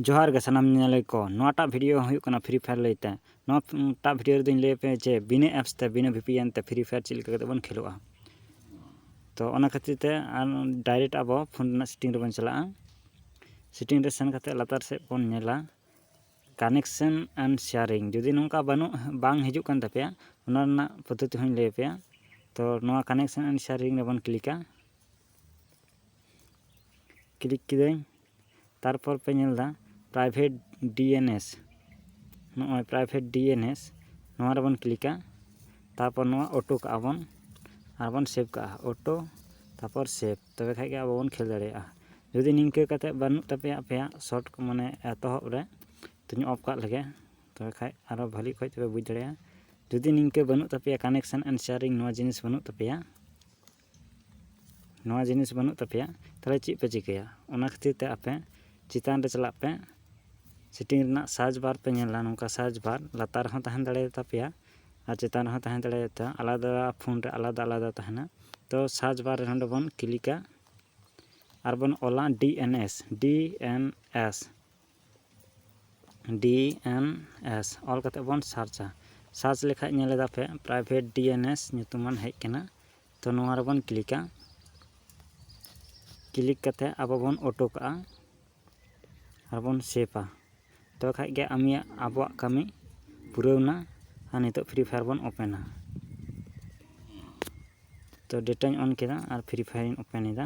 ᱡᱚᱦᱟᱨ ᱜᱮ ᱥᱟᱱᱟᱢ ᱧᱮᱧᱮᱞᱤᱭᱟᱹ ᱠᱚ ᱱᱚᱣᱟᱴᱟᱜ ᱵᱷᱤᱰᱤᱭᱳ ᱦᱩᱭᱩᱜ ᱠᱟᱱᱟ ᱯᱷᱨᱤ ᱯᱷᱟᱭᱟᱨ ᱞᱟᱹᱭᱛᱮ ᱱᱚᱣᱟᱴᱟᱜ ᱵᱷᱤᱰᱤᱭᱳ ᱨᱮᱫᱚᱧ ᱞᱟᱹᱭ ᱟᱯᱮᱭᱟ ᱡᱮ ᱵᱤᱱᱟᱹ ᱮᱯᱥ ᱛᱮ ᱵᱤᱱᱟᱹ ᱵᱷᱤᱯᱤᱮᱱ ᱛᱮ ᱯᱷᱨᱤ ᱯᱷᱟᱭᱟᱨ ᱪᱮᱫ ᱞᱮᱠᱟ ᱠᱟᱛᱮ ᱵᱚᱱ ᱠᱷᱮᱞᱳᱜᱼᱟ ᱛᱚ ᱚᱱᱟ ᱠᱷᱟᱹᱛᱤᱨ ᱛᱮ ᱟᱨ ᱰᱟᱭᱨᱮᱠᱴ ᱟᱵᱚ ᱯᱷᱳᱱ ᱨᱮᱱᱟᱜ ᱥᱮᱴᱤᱝ ᱨᱮᱵᱚᱱ ᱪᱟᱞᱟᱜᱼᱟ ᱥᱮᱴᱤᱝ ᱨᱮ ᱥᱮᱱ ᱠᱟᱛᱮ ᱞᱟᱛᱟᱨ ᱥᱮᱫ ᱵᱚᱱ ᱧᱮᱞᱟ ᱠᱟᱱᱮᱠᱥᱮᱱ ᱮᱱᱰ ᱥᱮᱭᱟᱨᱤᱝ ᱡᱩᱫᱤ ᱱᱚᱝᱠᱟ ᱵᱟᱹᱱᱩᱜ ᱵᱟᱝ ᱦᱤᱡᱩᱜ ᱠᱟᱱ ᱛᱟᱯᱮᱭᱟ ᱚᱱᱟ ᱨᱮᱱᱟᱜ ᱯᱚᱫᱽᱫᱷᱚᱛᱤ ᱦᱚᱸᱧ ᱞᱟᱹᱭ ᱟᱯᱮᱭᱟ ᱛᱚ ᱱᱚᱣᱟ ᱠᱟᱱᱮᱠᱥᱮᱱ ᱮᱱᱰ ᱥᱮᱭᱟᱨᱤᱝ ᱨᱮᱵᱚᱱ ᱠᱞᱤᱠᱟ ᱠᱞᱤᱠ ᱠᱤᱫᱟᱹᱧ ᱛᱟᱨᱯᱚᱨ ᱯᱮ ᱧᱮᱞ ᱮᱫᱟ ᱯᱨᱟᱭᱵᱷᱮᱴ ᱰᱤ ᱮᱱ ᱮᱥ ᱱᱚᱜᱼᱚᱭ ᱯᱨᱟᱭᱵᱷᱮᱴ ᱰᱤ ᱮᱱ ᱮᱥ ᱱᱚᱣᱟ ᱨᱮᱵᱚᱱ ᱠᱞᱤᱠᱟ ᱛᱟᱨᱯᱚᱨ ᱱᱚᱣᱟ ᱚᱴᱳ ᱠᱟᱜᱼᱟ ᱵᱚᱱ ᱟᱨ ᱵᱚᱱ ᱥᱮᱵᱷ ᱠᱟᱜᱼᱟ ᱚᱴᱳ ᱛᱟᱨᱯᱚᱨ ᱥᱮᱵᱷ ᱛᱚᱵᱮ ᱠᱷᱟᱱ ᱜᱮ ᱟᱵᱚ ᱵᱚᱱ ᱠᱷᱮᱞ ᱫᱟᱲᱮᱭᱟᱜᱼᱟ ᱡᱩᱫᱤ ᱱᱤᱝᱠᱟᱹ ᱠᱟᱛᱮᱫ ᱵᱟᱹᱱᱩᱜ ᱛᱟᱯᱮᱭᱟ ᱟᱯᱮᱭᱟᱜ ᱥᱚᱨᱴ ᱢᱟᱱᱮ ᱮᱛᱚᱦᱚᱵ ᱨᱮ ᱛᱚᱧ ᱚᱯᱷ ᱠᱟᱜ ᱞᱮᱜᱮ ᱛᱚᱵᱮ ᱠᱷᱟᱱ ᱟᱨᱚ ᱵᱷᱟᱹᱞᱤ ᱚᱠᱚᱡ ᱛᱮᱯᱮ ᱵᱩᱡᱽ ᱫᱟᱲᱮᱭᱟᱜᱼᱟ ᱡᱩᱫᱤ ᱱᱤᱝᱠᱟᱹ ᱵᱟᱹᱱᱩᱜ ᱛᱟᱯᱮᱭᱟ ᱠᱟᱱᱮᱠᱥᱮᱱ ᱮᱱᱰ ᱥᱮᱭᱟᱨᱤᱝ ᱱᱚᱣᱟ ᱡᱤᱱᱤᱥ ᱵᱟᱹᱱᱩᱜ ᱛᱟᱯᱮᱭᱟ ᱱᱚᱣᱟ ᱡᱤᱱᱤᱥ ᱵᱟᱹᱱᱩᱜ ᱛᱟᱯᱮᱭᱟ ᱛᱟᱦᱚᱞᱮ ᱪᱮᱫ ᱯᱮ ᱪᱤᱠᱟᱹᱭᱟ ᱚᱱᱟ ᱠᱷᱟᱹᱛᱤᱨ ᱛᱮ ᱟᱯᱮ ᱪᱮᱛᱟᱱ ᱨᱮ ᱪᱟᱞᱟᱜ ᱯᱮ ᱥᱤᱴᱤᱝ ᱨᱮᱱᱟᱜ ᱥᱟᱨᱪ ᱵᱟᱨ ᱯᱮ ᱧᱮᱞᱟ ᱱᱚᱝᱠᱟ ᱥᱟᱨᱪ ᱵᱟᱨ ᱞᱟᱛᱟᱨ ᱨᱮᱦᱚᱸ ᱛᱟᱦᱮᱸ ᱫᱟᱲᱮᱭᱟᱛᱟ ᱯᱮᱭᱟ ᱟᱨ ᱪᱮᱛᱟᱱ ᱨᱮᱦᱚᱸ ᱛᱟᱦᱮᱸ ᱫᱟᱲᱮᱭᱟᱛᱟ ᱟᱞᱟᱫᱟ ᱯᱷᱳᱱ ᱨᱮ ᱟᱞᱟᱫᱟ ᱟᱞᱟᱫᱟ ᱛᱟᱦᱮᱱᱟ ᱛᱚ ᱥᱟᱨᱪ ᱵᱟᱨ ᱨᱮ ᱱᱚᱰᱮ ᱵᱚᱱ ᱠᱞᱤᱠᱟ ᱟᱨ ᱵᱚᱱ ᱚᱞᱟ D N S D N S D N S ᱚᱞ ᱠᱟᱛᱮ ᱵᱚᱱ ᱥᱟᱨᱪᱟ ᱥᱟᱨᱪ ᱞᱮᱠᱷᱟᱡ ᱧᱮᱞ ᱮᱫᱟ ᱯᱮ ᱯᱨᱟᱭᱵᱷᱮᱴ ᱰᱤ ᱮᱱ ᱮᱥ ᱧᱩᱛᱩᱢᱟᱱ ᱦᱮᱡ ᱠᱟᱱᱟ ᱛᱚ ᱱᱚᱣᱟ ᱨᱮᱵᱚᱱ ᱠᱞᱤᱠᱟ ᱠᱞᱤᱠ ᱠᱟᱛᱮ ᱟᱵᱚ ᱵᱚᱱ ᱚᱴᱳ ᱠᱟᱜᱼᱟ ᱟᱨ ᱵᱚᱱ ᱥᱮᱵᱷᱟ ᱛᱚᱵᱮ ᱠᱷᱟᱡ ᱜᱮ ᱟᱢᱤᱭᱟᱜ ᱟᱵᱚᱣᱟᱜ ᱠᱟᱹᱢᱤ ᱯᱩᱨᱟᱹᱣ ᱮᱱᱟ ᱟᱨ ᱱᱤᱛᱚᱜ ᱯᱷᱨᱤ ᱯᱷᱟᱭᱟᱨ ᱵᱚᱱ ᱳᱯᱮᱱᱟ ᱛᱚ ᱰᱮᱴᱟᱧ ᱚᱱ ᱠᱮᱫᱟ ᱟᱨ ᱯᱷᱨᱤ ᱯᱷᱟᱭᱟᱨᱤᱧ ᱳᱯᱮᱱ ᱮᱫᱟ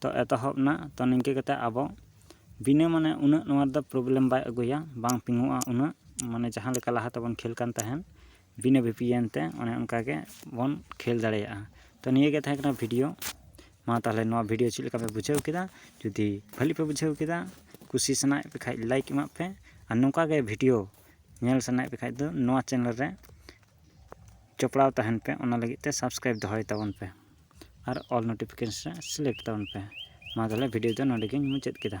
ᱛᱚ ᱮᱛᱚᱦᱚᱵ ᱮᱱᱟ ᱛᱚ ᱱᱤᱝᱠᱟᱹ ᱠᱟᱛᱮ ᱟᱵᱚ ᱵᱤᱱᱟᱹ ᱢᱟᱱᱮ ᱩᱱᱟᱹᱜ ᱱᱚᱣᱟ ᱨᱮᱫᱚ ᱯᱨᱚᱵᱞᱮᱢ ᱵᱟᱭ ᱟᱹᱜᱩᱭᱟ ᱵᱟᱝ ᱯᱤᱝᱚᱜᱼᱟ ᱩᱱᱟᱹᱜ ᱢᱟᱱᱮ ᱡᱟᱦᱟᱸ ᱞᱮᱠᱟ ᱞᱟᱦᱟ ᱛᱮᱵᱚᱱ ᱠᱷᱮᱞ ᱠᱟᱱ ᱛᱟᱦᱮᱸᱫ ᱵᱤᱱᱟᱹ ᱵᱷᱤ ᱯᱤ ᱮᱱ ᱛᱮ ᱚᱱᱮ ᱚᱱᱠᱟ ᱜᱮ ᱵᱚᱱ ᱠᱷᱮᱞ ᱫᱟᱲᱮᱭᱟᱜᱼᱟ ᱛᱚ ᱱᱤᱭᱟᱹ ᱜᱮ ᱛᱟᱦᱮᱸ ᱠᱟᱱᱟ ᱵᱷᱤᱰᱤᱭᱳ ᱢᱟ ᱛᱟᱦᱚᱞᱮ ᱱᱚᱣᱟ ᱵᱷᱤᱰᱤᱭᱳ ᱪᱮᱫ ᱞᱮᱠᱟ ᱯᱮ ᱵᱩᱡᱷᱟᱹᱣ ᱠᱮᱫᱟ ᱡᱩᱫᱤ ᱵᱷᱟᱹᱞᱤ ᱯᱮ ᱵᱩᱡᱷᱟᱹᱣ ᱠᱮᱫᱟ ᱠᱩᱥᱤ ᱥᱟᱱᱟᱭᱮᱫ ᱯᱮ ᱠᱷᱟᱡ ᱞᱟᱭᱤᱠ ᱮᱢᱟᱜ ᱯᱮ ᱟᱨ ᱱᱚᱝᱠᱟ ᱜᱮ ᱵᱷᱤᱰᱤᱭᱳ ᱧᱮᱞ ᱥᱟᱱᱟᱭᱮᱫ ᱯᱮ ᱠᱷᱟᱡ ᱫᱚ ᱱᱚᱣᱟ ᱪᱮᱱᱮᱞ ᱨᱮ ᱡᱚᱯᱲᱟᱣ ᱛᱟᱦᱮᱱ ᱯᱮ ᱚᱱᱟ ᱞᱟᱹᱜᱤᱫ ᱛᱮ ᱥᱟᱵᱥᱠᱨᱟᱭᱤᱵᱽ ᱫᱚᱦᱚᱭ ᱛᱟᱵᱚᱱ ᱯᱮ ᱟᱨ ᱚᱞ ᱱᱳᱴᱤᱯᱷᱤᱠᱮᱥᱚᱱ ᱨᱮ ᱥᱤᱞᱮᱠᱴ ᱛᱟᱵᱚᱱ ᱯᱮ ᱢᱟ ᱛᱟᱦᱚᱞᱮ ᱵᱷᱤᱰᱤᱭᱳ ᱫᱚ ᱱᱚᱰᱮ ᱜᱮᱧ ᱢᱩᱪᱟᱹᱫ ᱠᱮᱫᱟ